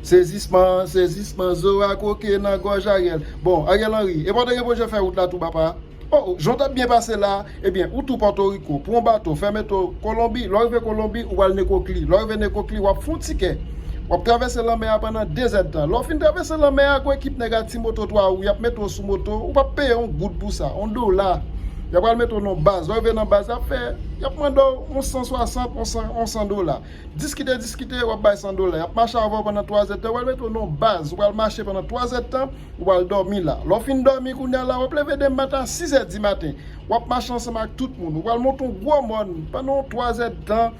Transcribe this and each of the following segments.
Sezisman, sezisman, zo a kwoke nan gòj Ariel. Bon, Ariel Henry, e pa w te gen pwojè fè wout la tou papa? O, o, jan w t ap byen pase la a, ebyen, ou tou Pòtoriko, pran w bato, fè meto, Kolonbi, lè w rive Kolonbi, ou pral Nekokli, lè w rive Nekokli, w ap fè w tikè, w ap travèse lanmè a pandan dezèdtan, lè w fin travèse lanmè a, gwo ekip nèg ak ti moto 3 wou y ap mete w sou moto, ou p ap peye yon goud pou sa, yon dola, y a pral mete w nan yon baz, lè w rive nan baz la, y ap fè, y ap mande w yon san swasant, yon san, yon san dola. Diskite diskite wap bay 100 dola yap mache avèw pandan 3 zèdtan wal mete w nan yon baz ou pral mache pandan 3 zèdtan ou pral dòmi la lè w fin dòmi kounya la wap leve demen maten a 6 zè di maten wap mache ansanm ak tout moun ou pral monte yon gwo mòn pandan yon 3 zèdtan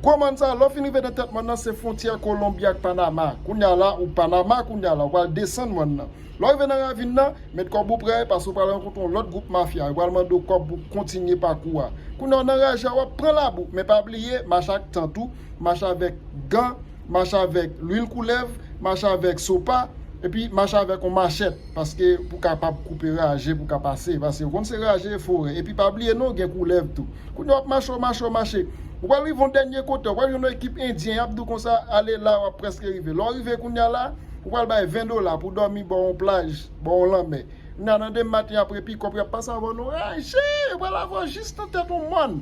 gwo mòn sa lè w fin rive nan tèt mòn nan se fwontyè kolonbi ak panama kounya la ou panama kounya la ou pral desann mòn nan. Lè w rive nan ravin nan, met kòb ou prè, pase w pral rankontre yon lòt gwoup mafya, yo pral mande w kòb pou kontinye pakou a. Kounye a w nan raje a, w ap pran labou, men pa bliye, mache ak tant ou, mache avèk gan, mache avèk lwil koulèv, mache avèk sopa, epi mache avèk yon machèt, paske pou w kapab koupe raje pou w ka pase, paske yo konn se raje e forè, epi pa bliye non, gen koulèv tou. Kounye a w ap mache, w mache, w mache, ou pral rive yon dènye kote, w pral jwenn yon ekip endyen, y ap di w konsa, ale la, w ap prèske rive. Lè w rive kounye a la. Ou pral bay 20 dola pou dòmi bò yon plaj, bò yon lanmè. Kounya nan demen maten apre pikòp yo ap pase avèw nou raje, yo pral avèw jis nan tèt yon mòn.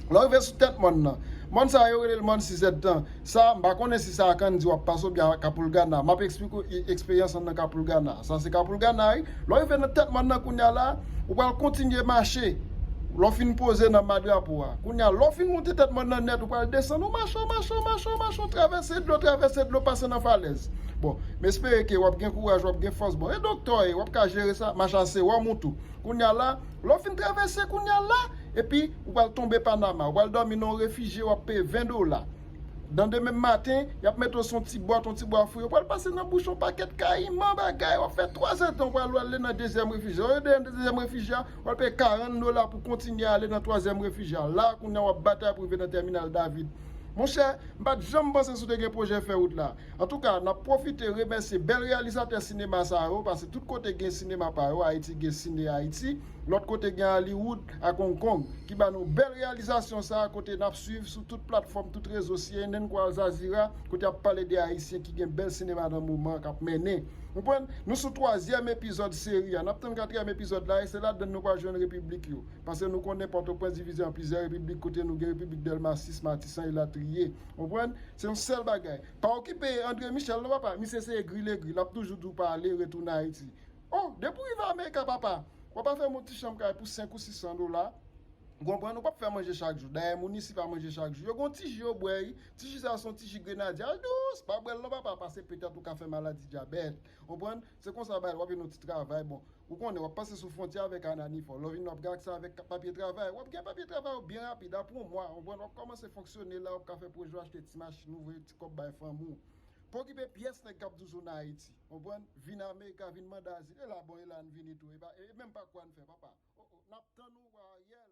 Lè w rive sou tèt mòn nan, mòn sa yo rele l mòn sizèd tan, sa m pa konnen si sa ak anndi w ap pase oubyen a kapoulgana, m ap esplike w eksperyans an nan kapoulgana, sa se kapoulgana wi. Lè w rive nan tèt mòn nan kounye a la, ou pral kontinye mache lè w fin poze nan ma drapo a. Kounye a, lè w fin monte tèt mòn nan nèt, ou pral desann, ou mache, ou mache, ou mache, ou mache, ou travèse dlo, travèse dlo, pase nan falèz. Bon, m espere ke w ap gen kouraj, w ap gen fòs. Bon, e doktè w e? W ap ka jere sa? Mache a se wòm ou tou. Kounye a la, lè w fin travèse kounye a la, epi ou pral tonbe Panama. Ou pral dòmi nan yon refijye, w ap peye 20 dola. Dan demen maten, y ap mete w sou yon ti bwat, yon ti bwa fri, ou pral pase nan bouch yon pakèt kayiman bagay, w ap fè twa zè tan, ou pral ale nan dezyèm refij la. Ou rive nan dezyèm refij la, w al peye 40 dola pou kontinye ale nan twazyèm refij la. La a kounye a, w ap batay pou rive nan Tèminal David. Monchè, m pa t janm panse si w te gen pwojè fè wout la. Antouka, n ap pwofite remèsye bèl reyalizatè sinema sa yo, pase tout kote gen sinema pa yo, Ayiti gen Ciné Haïti. Lòt kote gen Hollywood ak Hong Kong ki ba nou bèl reyalizasyon sa a kote n ap swiv sou tout platfòm, tout rezo cnn kou Alzazira kote y ap pale de Ayisyen ki gen bèl sinema nan moman an k ap mennen. Ou konprann? Nou sou twazyèm epizòd seri a, n ap tann katriyèm epizòd la e se ladan n nou pral jwenn repiblik yo. Paske nou konnen Pòtoprens divize an plizyè repiblik kote nou gen repiblik Dèlma 6, Matisan elatriye. Ou konprann? Se yon sèl bagay. Pa okipe André Michel non papa, misye se egri legri, l ap toujou di w pa ale, retounen Ayiti. Oh, depi ou rive America papa, wap afè m yon ti chanm kay pou 5 ou 600 dola, ou konprann, ou pap fè manje chak jou, dayè moun isi pa manje chak jou, yo gen yon ti ji yo bwè wi, ti ji sa se yon ti ji grenadye, al dous, pa bwè l non papa, pase petèt ou ka fè maladi dyabèt, ou konprann, se konsa yo bay la, wap jwenn yon ti travay, bon, ou konnen, wap pase sou fwontyè avèk Anani fò, lè w vini wap gen aksè avèk papye travay, wap gen papye travay yo byen rapid, apre yon mwa, ou konprann, wap kòmanse fonksyone la, wap ka fè pwojè w achte ti machin ou, voye ti kòb bay fanmi w, pa okipe pyès nèg kap dous ou nan Ayiti. Konprann? Vin America, vin mande azil. E la bon e la n vini tou e pa e menm pa kwa n fè papa. O o, n ap tann ou wa Ariel.